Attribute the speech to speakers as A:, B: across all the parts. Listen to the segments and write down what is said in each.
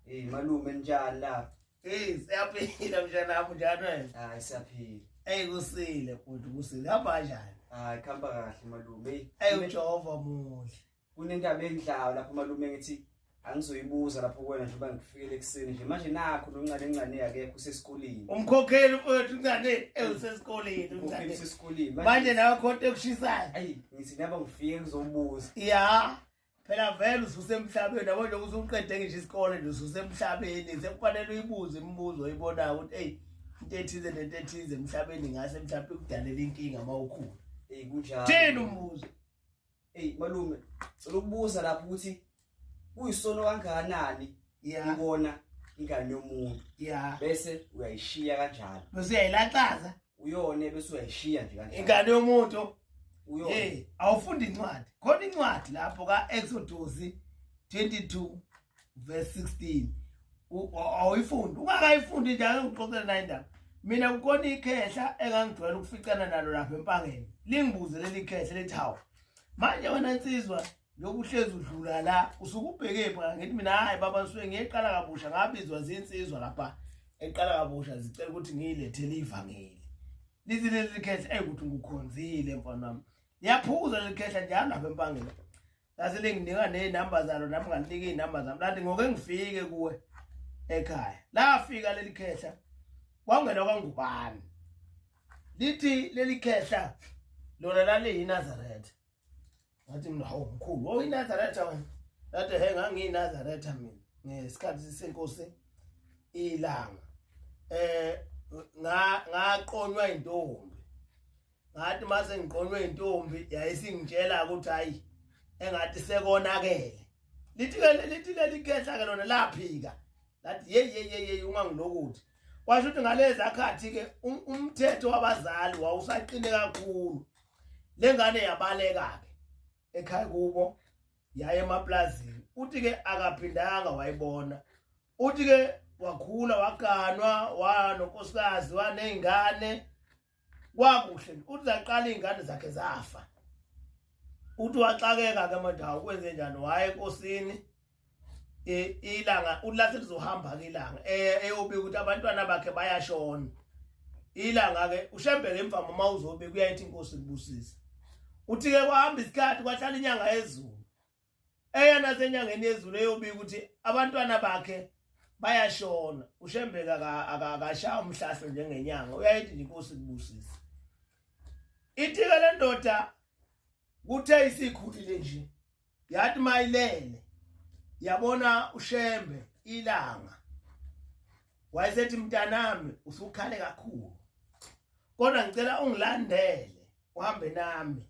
A: Hey malume njani la? Hey siyaphila
B: mjana wami njani wena? Hayi siyaphila.
A: Hey kusile
B: futhi kusile hamba kanjani? Hayi khamba kahle
A: malume. Hey uJehova
B: muhle. Kunendaba
A: endlawo lapho malume ngithi angizoyibuza lapho kuwena njengoba ngifikele ekuseni nje manje nakho noncane ncane yakekho usesikoleni umkhokheli mfowethu
B: ncane usesikoleni umkhokheli usesikoleni
A: manje nawe khonto
B: ekushisayo ayi ngithi naba
A: ngifike ngizobuza ya
B: phela vele ususemhlabeni yabo nje usuqede ngisho isikole nje ususemhlabeni sekufanele uyibuze imibuzo oyibonayo ukuthi eyi into ethize nento ethize emhlabeni ngase mhlawumbe kudalela inkinga uma ukhula eyi kunjalo thini
A: umbuzo
B: eyi
A: malume cela ukubuza lapho ukuthi kuyisono kangakanani ikona ingane yomuntu ya bese uyayishiya kanjalo bese uyayilaxaza
B: uyone bese
A: uyayishiya nje kanjalo ingane yomuntu
B: uyone hey
A: awufunda incwadi
B: khona incwadi lapho ka Exodus 22 verse 16 awuyifundi ungakayifundi njalo ngixoxela naye indaba mina kukhona ikhehla engangijwayela ukuficana nalo lapha empangeni lingibuze leli khehla lithi hawu manje wena nsizwa lokhu uhlezi udlula la usuke ubheke pha ngithi mina hayi baba ngisuke ngiyeqala kabusha ngabizwa zinsizwa lapha eqala kabusha zicela ukuthi ngiyilethele ivangeli lithi leli khehla eyi ukuthi ngikukhonzile mfana wami liyaphuza leli khehla njalo lapha empangeni lase linginika nezinamba zalo nami ngalinika izinamba zami lathi ngoke ngifike kuwe ekhaya lafika leli khehla kwangena kwangubani lithi leli khehla lona laliyinazaretha ngathi mina hawu mkhulu wawuyinazaretha wena ngathi he ngangiyinazaretha mina ngesikhathi senkosi ilanga eh ngaqonywa intombi ngathi mase ngiqonywe intombi yayisingitshela ukuthi hayi engathi sekonakele lithi ke lithi leli khehla ke lona laphika lathi hey hey hey ungangilokuthi kwasho ukuthi ngalezi akhathi ke um, umthetho wabazali wawusaqine kakhulu lengane yabaleka ke ekhaya kubo yaye emaplazini uthi ke akaphindanga wayibona uthi ke wakhula waganwa wanonkosikazi wanezingane kwakuhle uthi zaqala izingane zakhe zafa uthi waxakeka ke manje awukwenze njani waye enkosini ilanga ulathi lizohamba ke ilanga eh, eyobika ukuthi abantwana bakhe bayashona ilanga ke ushembe ngemva mama uzobe kuyayithi inkosi kubusisa uthi ke kwahamba isikhathi kwahlala inyanga yezulu eyona senyangeni yezulu eyobika ukuthi abantwana bakhe bayashona ushembeka akashaya umhlahlo njengenyanga uyayithi nje inkosi kubusisa ithike lendoda kuthe isikhulile nje yathi mayilele yabona ushembe ilanga wayesethi mntanami usukhale kakhulu kodwa ngicela ungilandele uhambe nami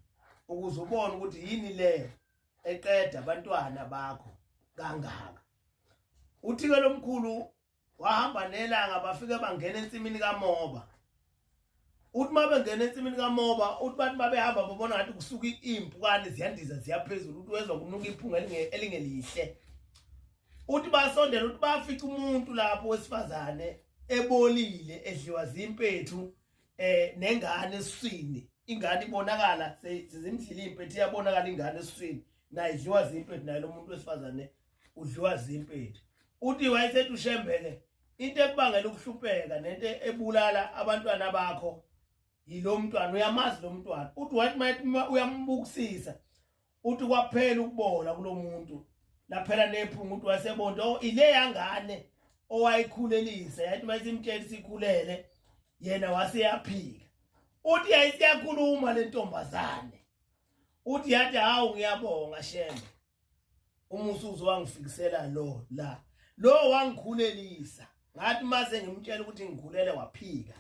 B: ukuze ubone ukuthi yini le eqeda abantwana bakho kangaka uthike lomkhulu wahamba nelanga bafike bangena ensimini kamoba uthi uma bengena ensimini kamoba uthi bathi uma behamba babona ngathi kusuka iy'mpukane ziyandiza ziyaphezulu uthi wezwa kunuka iphunga elingelihle uthi basondela uthi bafica umuntu lapho wesifazane ebolile edliwa zimpethu eh nengane eswini ingane ibonakala sezimdlile impethu iyabonakala ingane eswini nayo idliwa zimpethu nayo lomuntu wesifazane udliwa zimpethu uthi wayesethi ushembele into ekubangela ukuhlupeka nento ebulala abantwana bakho yilo mntwana uyamazi lo mntwana uthi wathi uma uyambukisisa uthi kwaphela ukubola kulo muntu laphela nephunga uthi wasebonto oh, ile yangane owayikhulelisa yathi uma isimtshela sikhulele yena waseyaphika uthi yayisiyakhuluma le ntombazane uthi yathi hawu ngiyabonga shembe umusa uzowangifikisela lo la lo wangikhulelisa ngathi mase ngimtshela ukuthi ngikhulele waphika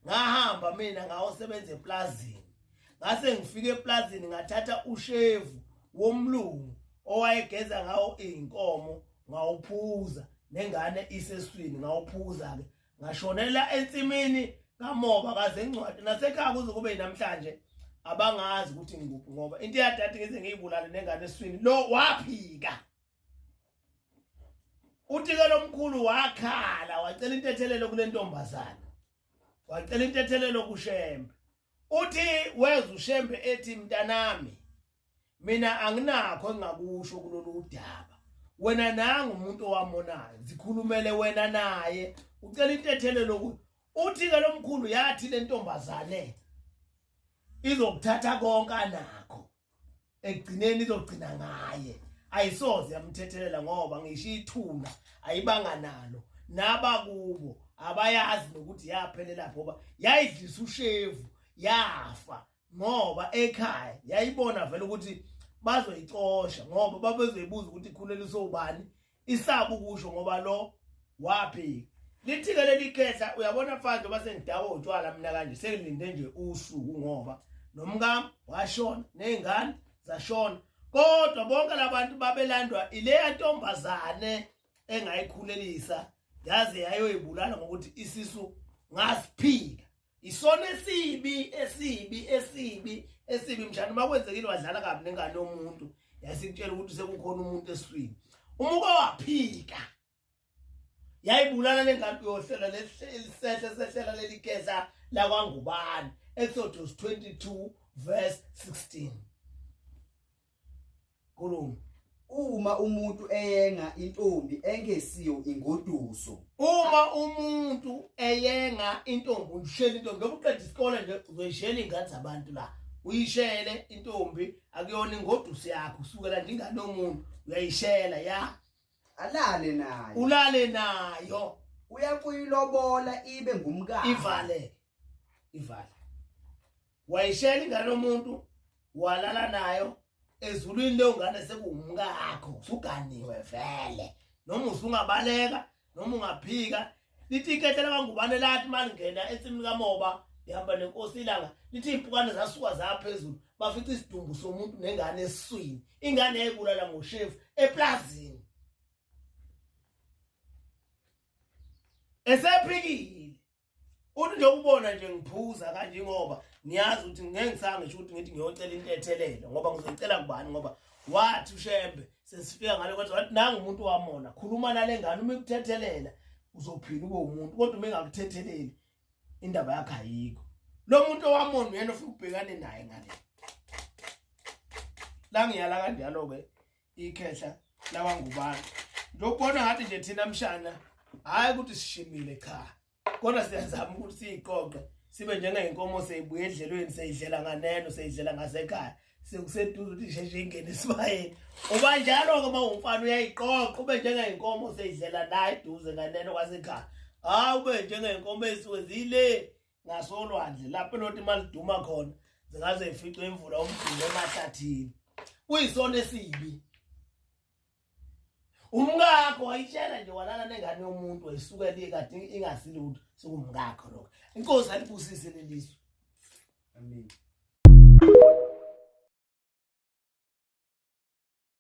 B: ngahamba mina ngawosebenza eplazini ngase ngifike eplazini ngathatha ushevu womlungu owayegeza ngawo izinkomo ngawuphuza nengane iseswini ngawuphuza ke ngashonela ensimini kamoba kaze ngcwadi nasekhaya kuze kube namhlanje abangazi ukuthi ngikuphi ngoba into yadade ngize ngiyibulale nengane eswini lo waphika utike lomkhulu wakhala wacela intethelelo kule ntombazana wacela intethelelo kushembe Uthi weza uShembe ethi mntanami mina anginakho engakusho kulolu udaba wena nangu umuntu owamonayo zikhulumele wena naye ucela intethelo lokuthi uthi ke lomkhulu yathi lentombazane izokuthatha konke anakho ekugcineni izogcina ngaye ayisoze yamthethelela ngoba ngisho ithuna ayibanga nalo nabakubo abayazi nokuthi yaphelela ngoba yayidlisa ushevu yafa ngoba ekhaya yayibona vele ukuthi bazoyicosha ngoba babezoyibuza ukuthi ikhuleliswe ubani isaba ukusho ngoba lo waphika lithike leli khehla uyabona mfana uma sengidawo utshwala mina kanje sengilinde nje usuku ngoba nomkam washona nezingane zashona kodwa bonke labantu babelandwa ileya ntombazane engayikhulelisa yaze yayoyibulala ngokuthi isisu ngasiphika isona esibi esibi esibi esibi mshana uma kwenzekile wadlala kabi nengane yomuntu yasikutshela ukuthi sekukhona umuntu eswini uma uke waphika yayibulala le ngane uyohlela lelisehla sehlela lelikesa lakwangubane exodus 22 verse 16 Khuluma. Uma
A: umuntu eyenga intombi engesiyo ingoduso. Uma
B: umuntu eyenga intombi ushela intombi ngoba uqeda isikole nje uzoyishela ingane zabantu la. Uyishele intombi akuyona ingoduso yakho usukela nje ingane yomuntu uyayishela ya. Alale nayo. Ulale nayo. Uyakuyilobola
A: ibe ngumkakhe. Ivale.
B: ivala wayishela ingane lomuntu walala nayo ezulwini leyo ngane sekungumkakho usuganiwe vele noma usungabaleka noma ungaphika lithi ikethe lakangubane lathi malingena ensimini kamoba ihamba nenkosi ilanga lithi iy'mpukane zasuka zaphezulu bafica isidumbu somuntu nengane esiswini ingane yayibulala ngoshefu eplazini esephikile uthi nje ubona nje ngiphuza kanje ngoba niyazi ukuthi ngeke ngisange ukuthi ngithi ngiyocela intethelelo ngoba ngizocela kubani ngoba wathi ushembe sesifika ngale kwenza wathi nangu umuntu wamona khuluma nale ngane uma ikuthethelela uzophila ube umuntu kodwa uma engakuthetheleli indaba yakhe ayikho lo muntu owamona uyena ofuna ukubhekane naye ngale la ngiyala kanjalo-ke ikhehla lawangubani ndokubona ngathi nje thina mshana hhayi ukuthi sishimile cha kodwa siyazama ukuthi siyiqoqe sibe njengenkomo seyibuye edlelweni seyidlela nganeno seyidlela ngasekhaya sekuseduze ukuthi sheshe ingene esibayeni uba njalo-ke uma umfana uyayiqoqa ube njengenkomo seyidlela la eduze nganeno kwasekhaya hhayi ube njengenkomo ezisuke zile ngasolwandle lapho loti maliduma khona zingaze ificwe imvula umdumbe emahlathini kuyisona esibi umkakho wayitshela nje walala nengane yomuntu wayisuke liye kade ingasilutho sikumkakho lokho inkosi
A: alibusise
B: lelizwe amen